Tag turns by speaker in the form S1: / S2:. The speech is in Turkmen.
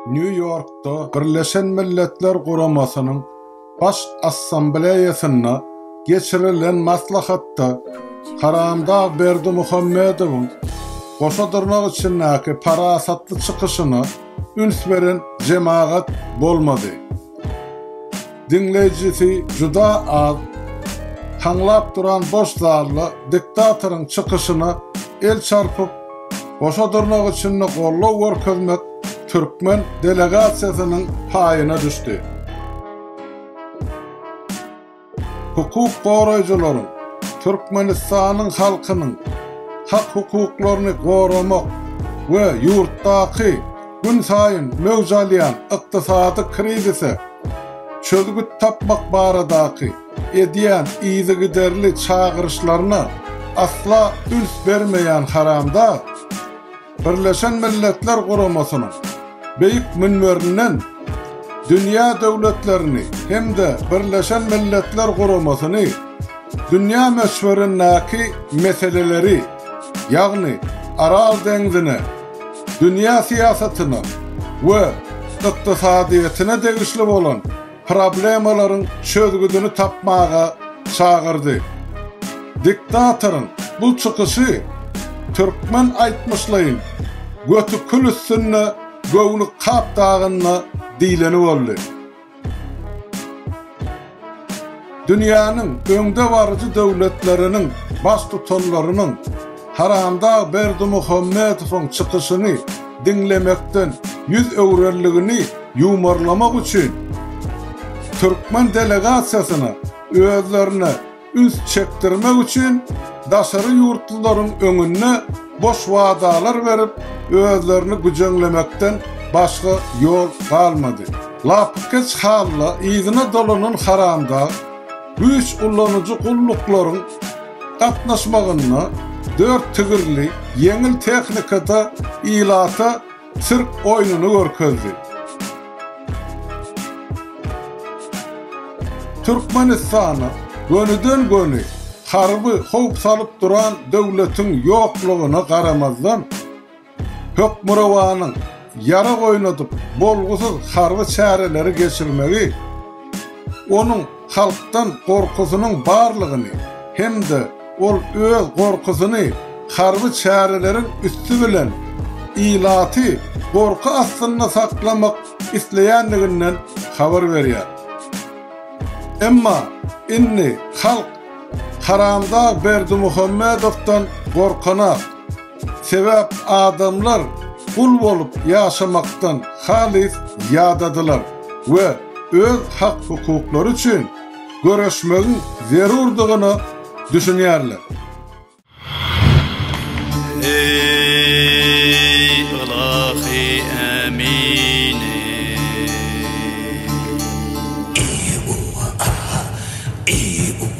S1: Nýu-Ýorkda Birleşen Milletler Guramasynyň Baş Assambleýasynda geçirilen maslahatda Haramdag Berdimuhamedowyň goşa dyrnak içindäki parasatly çykyşyna üns beren jemagat bolmady. Diňleýjisi juda az. Haňlap duran boş zalda diktatoryň çykyşyna el çarpyp, goşa durnak içinde goldaw görkezmek türkmen delegasiýasynyň paýyna düşdi. Hukuk goraýjylaryň Türkmenistanyň halkynyň hak-hukuklaryny goramak we ýurtdaky Günsaýyn möwç alýan ykdysady krizise çözgüt tapmak baradaky edýän yzygiderli çagyryşlaryna asla üns bermeýän haramdag Birleşen Milletler Guramasynyň beýik münberinden dünýä döwletlerini hem-de Birleşen Milletler Guramasyny dünýä möçberindäki meseleleri, ýagny Aral deňzine, dünýä syýasatyna we ykdysadyýetine degişli bolan problemalaryň çözgüdini tapmaga çagyrdy. Diktatoryň bu çykyşy türkmen aýtmyşlaýyn Göti kül üstünde göwni kap dagynda diýleni boldy. Dünýäniň öňdebaryjy döwletleriniň Baştutanlarynyň Haramdag Berdimuhamedowyň çykyşyny diňlemekden ýüz öwrenligini ýuwmarlamak üçin, türkmen delegasiýasyna özlerine Üns çekdirmek üçin daşary ýurtlularyň öňünde boş wadalar berip, özlerini güjeňlemekden başga ýol galmady. Lapykeç halla yzyna dolanan haramdag güýç ulanyjy gulluklaryň gatnaşmagynda dört tigirli ýeňil tehnikada ilata sirk oýnuny görkezdi. Türkmenistana gönüden-göni harby howp salyp duran döwletiň ýoklugyna garamazdan, Hökmürowanyň ýarag oýnadyp bolgusyz harby çäreleri geçirmegi onuň halkdan gorkusynyň barlygyny hem-de ol öz gorkusyny harby çäreleriň üsti bilen ilaty gorky astynda saklamak isleýändiginden habar berýär. Emma indi halk Haramdag Berdimuhamedowdan gorkanak. Sebäp adamlar gul bolup ýaşamakdan halys ýadadylar we öz hak-hukuklary üçin göreşmegiň zerurdygyna düşünýärler. Eý, ylahy Ämini! Eý, Uww, Ahha! Eý, Uww!